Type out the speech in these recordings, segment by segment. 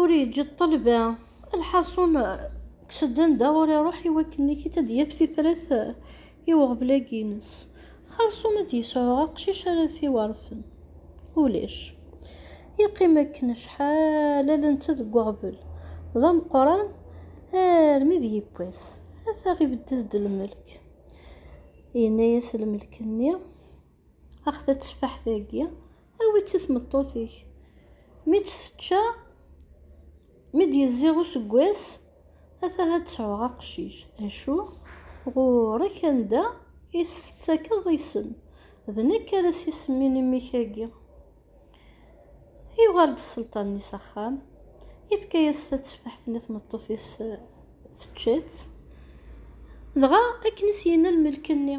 ur yeǧǧi ṭṭelba lḥaṣun kkes-d anda ur iruḥ i wakken ikit ad yaf tifrat i uɣbel-agi-ines xersum ad d-yesɛu aqcic ara t-iwersen ulac yeqqim akken acḥal ala netta deg uɣbel d ameqqran armi d yewwas ata ibeddez-d lmelk yenna-yas lmelk-nni Axet a teffaḥt-agi, awi-tt i tmeṭṭut-ik. Mi tt-tečča, mi d-yezziɣ useggas, ata ad d-sɛuɣ aqcic. Acu? Ɣur-k anda i s-tettakeḍ isem, d nekk ara s-isemmin i mmi-k-agi. Yuɣal-d sselṭan-nni s axxam, yefka-yas tateffaḥt-nni tmeṭṭut-is tečča-tt, dɣa akken i s-yenna lmelk-nni.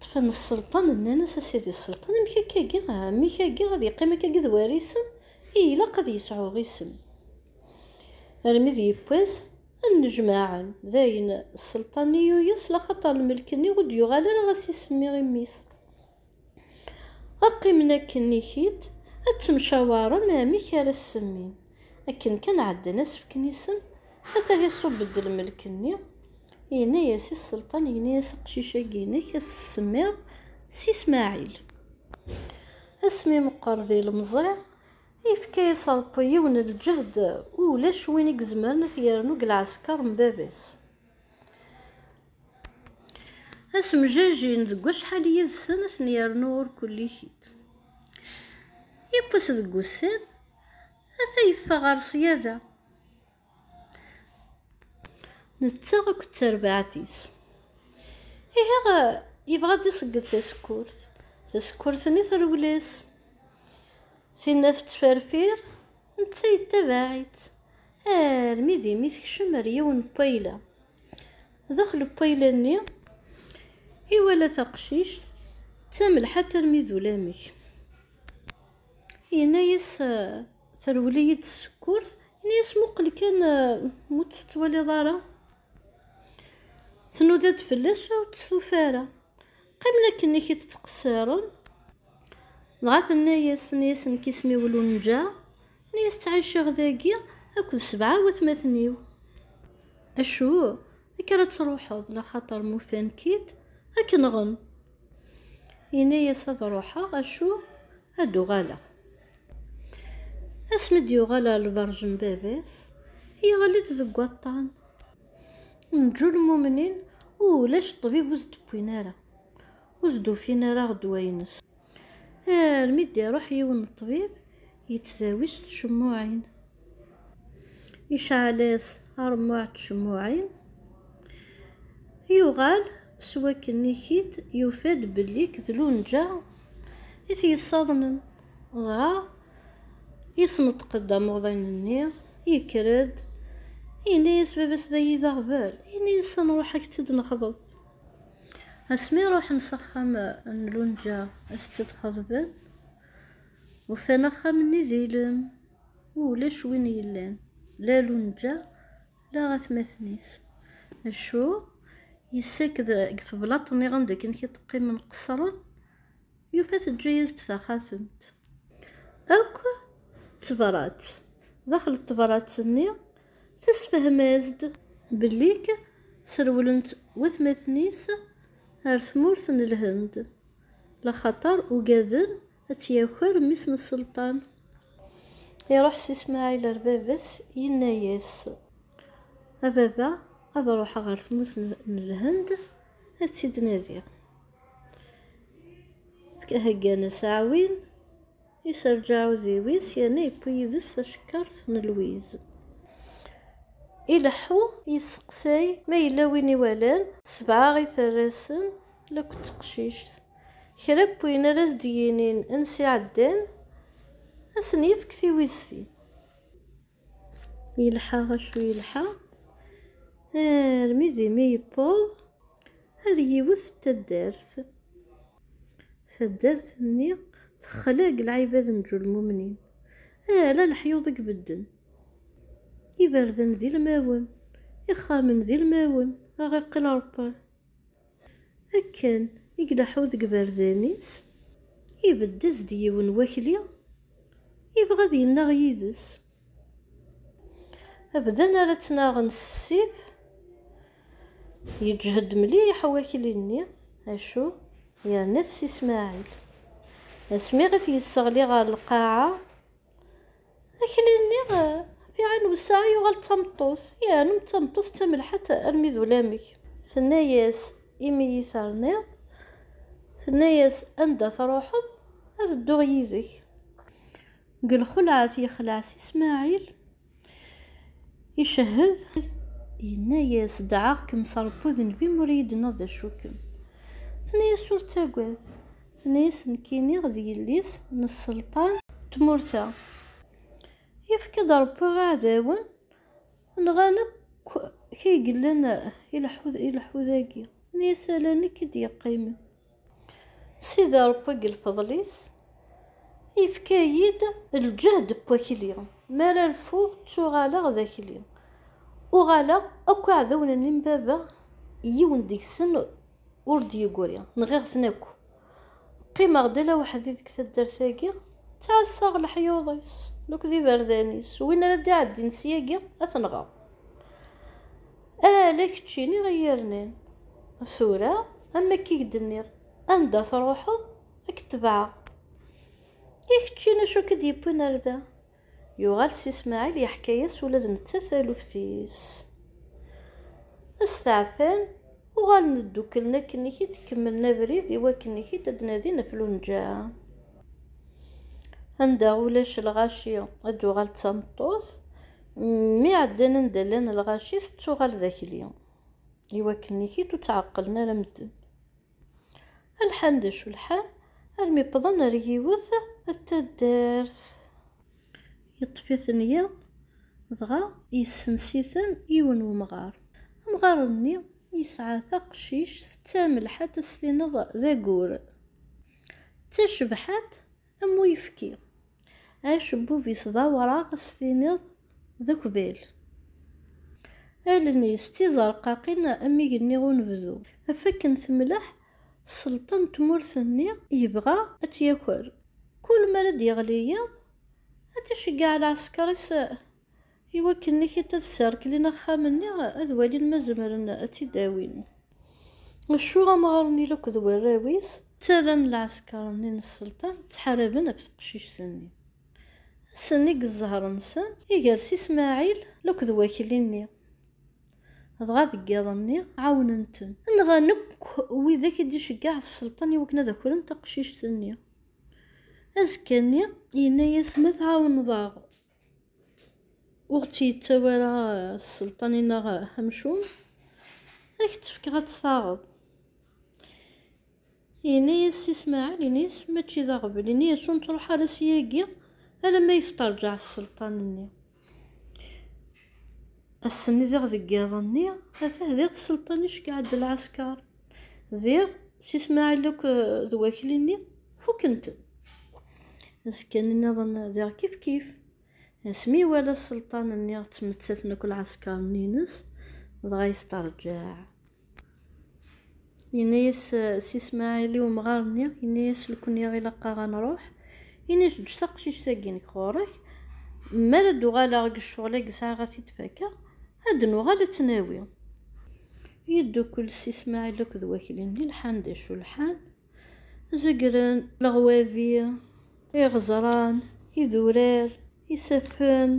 Ṭṭfen sselṭan, nnan-as, A sidi sselṭan, amek akka-agi? Ɛemmi-k-agi ad yeqqim akka-agi d warisen? I ilaq ad yesɛu isem. Armi d yiwwas, ad nnejmaɛen. Dayen, sselṭan i yuyes, laxaṭer lmelk-nni ur d-yuɣal ara ad s-isemmi i mmi-s. Ad qqimen akken i tiṭ, ad ttemcawaren amek ara s-semmin. Akken kan ɛeddan asefk n isem, ata iṣubb-d lmelk-nni, yenna-yas i Sselṭan, yenna-yas, Aqcic-agi-inek ad s-tsemmiḍ Si Smaɛil. Asmi meqqer d ilemẓi, yefka-yas Ṛebbi yiwen n lǧehd ulac win i izemren ad t-yernu deg lɛesker n baba-s. Ad semjajin deg wacḥal yid-sen ad ten-yernu ur kulli-k-id. Yiwwas deg wussan, Ata yeffeɣ ɣer ṣṣyada. Nettaɣ akked terbaɛt-is. Ihi yebɣa ad d-iṣegged tasekkurt. Tasekkurt-nni trewwel-as. Tinna tettferfir, netta yettabaɛ-itt. Armi d imi tekcem ar yiwen n wayla. Daxel n wayla-nni, iwala taqcict d tamelḥant armi d ulamek. Yenna-yas terwel-iyi-d tsekkurt, yenna-yas muqel kan mu tt-tettwaliḍ ara. Tnuda-d fell-as ur tt-tufa ara. Qqimen akken ik tt-ttqessiren. Dɣa tenna-yas, tenna-yas nekk isem-iw Lunǧa, tenna-yas ttɛiceɣ dagi akked sebɛa watmaten-iw. Acu? Akka ara truḥeḍ, laxaṭer mufan-k-id, ad k-nɣen. Yenna-yas ad ruḥeɣ acu ad d-uɣaleɣ. Asmi d-yuɣal ɣer lberǧ n baba-s, yeɣli-d deg waṭṭan. Neǧǧu lmumnin ulac ṭṭbib ur s-d-wwin ara, ur s-d-ufin ara ɣ ddwa-ines. Armi d-iruḥ yiwen n ṭṭbib Yettdawi s tcemmuɛin. Iceɛl-as aṛemmuɛ n tcemmuɛin. Yuɣal s wakken i k-id yufa-d belli nekk d Lunǧa i t-yessaḍnen. Dɣa yesneṭq-d amuḍin-nni, yekker-d, yenna-yas baba-s dayi d aɣbel, yenna-yas a nṛuḥ a k-tt-id-nexḍeb. Asmi ṛuḥen s axxam n Lunǧa a t-tt-id-xeḍben. Ufan axxam-nni d ilem, u ulac win yellan, la Lunǧa, la atmaten-is. Acu? Yessaked deg teblaḍt nniɣ anda akken i d-qqimen qesren, yufa teǧǧa-yas-d taxatemt. Akk d tebrat. Daxel n tebrat-nni, tessefhem-as-d. Bellik serwlen-tt watmaten-is ar tmurt n Lhend, laxater ugaden Ad tt-yaker mmi-s n Selṭan. Iruḥ Si Smaɛil ar baba-s, yenna-yas. A baba, ad ruḥeɣ ɣer tmurt n Lhend, ad tt-id-nadiɣ. Heggan-as aɛwin, iserreǧ aɛudiw-is yerna yewwi yid-s tacekkart n lwiz. Ileḥḥu, yesteqsay ma yella win iwalan, sebɛa i terra-sen La akked teqcict. Kra n wayen ara as-d-yinin ansi ɛeddan, ad sen-yefk tiwiztin. Yelḥa acu yelḥa, armi d imi yewweḍ ar yiwet n taddart. Taddart-nni texla deg lɛibad n Ǧulmumnin, ala leḥyuḍ i ibedden. Iberdan d ilmawen, ixxamen d ilmawen, aɣ iqqel areṭṭal. Akken i ileḥḥu deg iberdan-is, ibedd-as-d yiwen wakli, ibɣa ad yennaɣ yid-s. Bdan ara ttnaɣen s ssif, yeǧhed mliḥ wakli-nni, acu yerna-t Si Smaɛil. Asmi i t-yesseɣli ɣer lqaɛa, Akli-nni fiɛen wesɛa yuɣal d tameṭṭut, yeɛnem d tameṭṭut d tamelḥant armi d ulamek. Tenna-yas, Imi iyi-terniḍ, tenna-yas, Anda truḥeḍ, ad dduɣ yid-k. Deg lxelɛet yexleɛ si Smaɛil, icehhed, yenna-yas, Dɛaɣ-kem s Ṛebbi udenbi mi ur iyi-d-tenniḍ d acu-kem. Tenna-yas, Ur ttagad. Tenna-yas nekkini d yelli-s n sselṭan n tmurt-a. Yefka-d Rebbi i iɛdawen, nɣan akk kra i yellan i lḥu-dagi. Tenna-yas ala nekk i d-yeqqimen. Sidi Rebbi deg lfeḍl-is yefka-yi-d lǧehd n wakli, mi ara rfuɣ ttuɣaleɣ d akli. Uɣaleɣ akk iɛdawen-nni n baba yiwen deg-sen Ur d-yeggri, nɣiɣ-ten akk. Qqimeɣ-d ala weḥd-i deg taddart-agi, ttɛassaɣ leḥyuḍ-is akked iberdan-is, win ara d-iɛeddin syagi ad t-nɣeɣ. Ala kečč i niɣ i yi-yernan. Tura, am wakk i k-d-nniɣ, anda truḥeḍ, a k-tebɛeɣ. I keččini acu i k-d-yewwin ar da? Yuɣal Si Smaɛil yeḥka-as ula d netta taluft-is. Ad steɛfan, uɣalen dduklen akken ik id kemmlen abrid i wakken ik id ad nadin ɣef Lunǧa. Anda ulac lɣaci ad tuɣal d tameṭṭut, mi ɛeddan anda llan lɣaci tettuɣal d akli, i wakken ik id ur tt-ɛeqqlen ara medden. Lḥal d acu lḥal armi wwḍen ar yiwet d taddart. Yeṭṭef-iten yiḍ dɣa yessens-iten yiwen wemɣar. Amɣar-nni yesɛa taqcict d tamelḥant ad s-tineḍ d agur. D tacebḥant Am uyefki. Acebbub-is d awraɣ s tiniḍ d ukbal. Allen-is d tizerqaqin am igenni unebdu. Ɣef akken temleḥ sselṭa n tmurt-nni yebɣa ad tt-yaker. Kul mi ara d-yeɣli yiḍ ad d-iceggeɛ lɛesker-is. I wakken Nikita d Serklin axxam-nni ad walin ma zemren ad tt-id-awin. Acu amɣar-nni lakk d warraw-is ttalan lɛesker-nni n sselṭan ttḥaraben ɣef teqcict-nni. Ass-nni deg zzher-nsen igers i Smaɛil lakk d wakli-nni. Dɣa deg yiḍ-nni ɛawnen-ten. Nɣan akk widak i d-iceggeɛ sselṭan i wakken ad akren taqcict-nni. Azekka-nni yenna-yas ma tɛawneḍ-aɣ ur ɣ-tt-yettawi ara sselṭan-ineɣ amcum, ad k-tt-fkeɣ ad tt-taɣeḍ. Yenna-yas Si Smaɛel, ini-yas, mačči d aɣbel, ini-yas ur nettruḥ ara syagi alamma yesteṛǧaɛ sselṭan-nni. Ass-nni diɣ deg yiḍ-nni, ata diɣ sselṭan iceggeɛ-d lɛesker. Diɣ, si Smaɛil akk d wakli-nni fukken-ten. Azekkan-nniḍen diɣ kif kif, asmi iwala sselṭan-nni ttmettaten akk lɛesker-nni-ines, dɣa yesteṛǧaɛ. Yenna-yas si Smaɛil i umɣar-nni, yenna-yas lekniɣ ilaq-aɣ ad nṛuḥ, ini-as eǧǧ taqcict-agi-inek ɣur-k, mi ara d-uɣaleɣ deg ccɣel-agi sɛiɣ ad t-id-fakeɣ, Ad d-nuɣal ad tt-nawi. Yeddukel s Ismaɛil akked wakli-nni lḥan d acu lḥan, zegren leɣwabi, iɣeẓran, idurar, isaffen,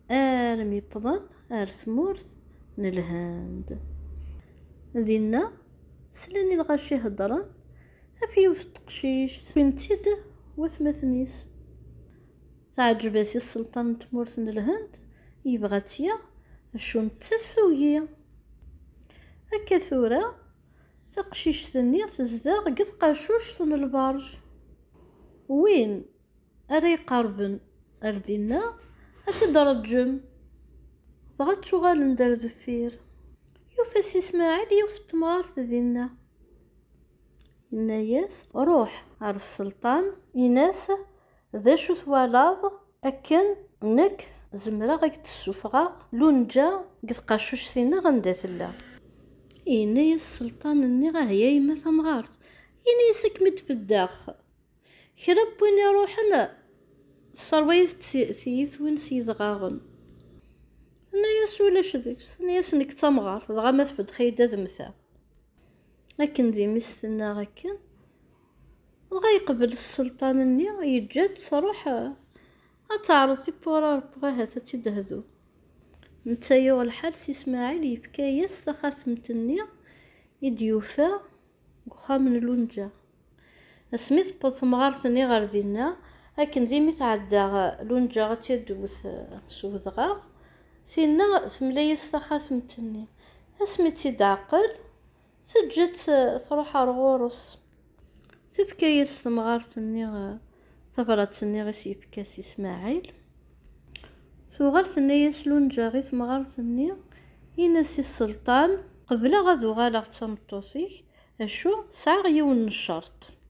armi wwḍen ar tmurt n Lhend. Dinna, slan i lɣaci heddren ɣef yiwet n teqcict, wwin-tt-id watmaten-is. Teɛǧeb-as i sselṭan n tmurt n Lhend, yebɣa ad tt-yaɣ, acu nettat tugi. Akka tura, taqcict-nni tezdeɣ deg tqacuct n lberǧ. Win ara iqerben ar dinna, ad t-id-reǧǧem. Dɣa ttuɣalen-d ar deffir. Yufa Si Smaɛel yiwet n temɣart dinna. Yenna-yas, Ruḥ ar sselṭan. Yenna-as, D acu twalaḍ akken nekk zemreɣ ak d-ssufɣeɣ Lunǧa deg tqacuct-nneɣ anda tella? Yenna-yas Selṭan nniɣ ahya a yemma tamɣart, ini-yas ad kem-id-beddeɣ. Kra n win iruḥen tesserwa-yas tiyitwin s yedɣaɣen. Tenna-yas ulac deg-s, tenna-yas nekk d tamɣart, dɣa ma tbeddex-iyi-d ad mmteɣ. Akken d imi-s tenna akken, Dɣa yeqbel sselṭan-nni, yeǧǧa-tt truḥ ad teɛreḍ tiwwura n Rebbi ahat ad tt-id-tehdu. Netta yuɣ lḥal si Smaɛil, yefka-as taxatemt-nni i d-yufa deg uxxam n Lunǧa. Asmi tewweḍ temɣart-nni ɣer dinna, akken d imi tɛedda Lunǧa ad tt-id-tewwet s udɣaɣ, tinna temla-as taxatemt-nni. Asmi tt-id-teɛqel, Teǧǧa-tt truḥ ar ɣur-s. Tefka-yas temɣart-nni tabrat-nni i s-yefka Si Smaɛil. Tuɣal tenna-yas Lunǧa i temɣart-nni, in-as i Selṭan. Qebleɣ ad uɣaleɣ d tameṭṭut-ik, acu sɛiɣ yiwen n ccerṭ.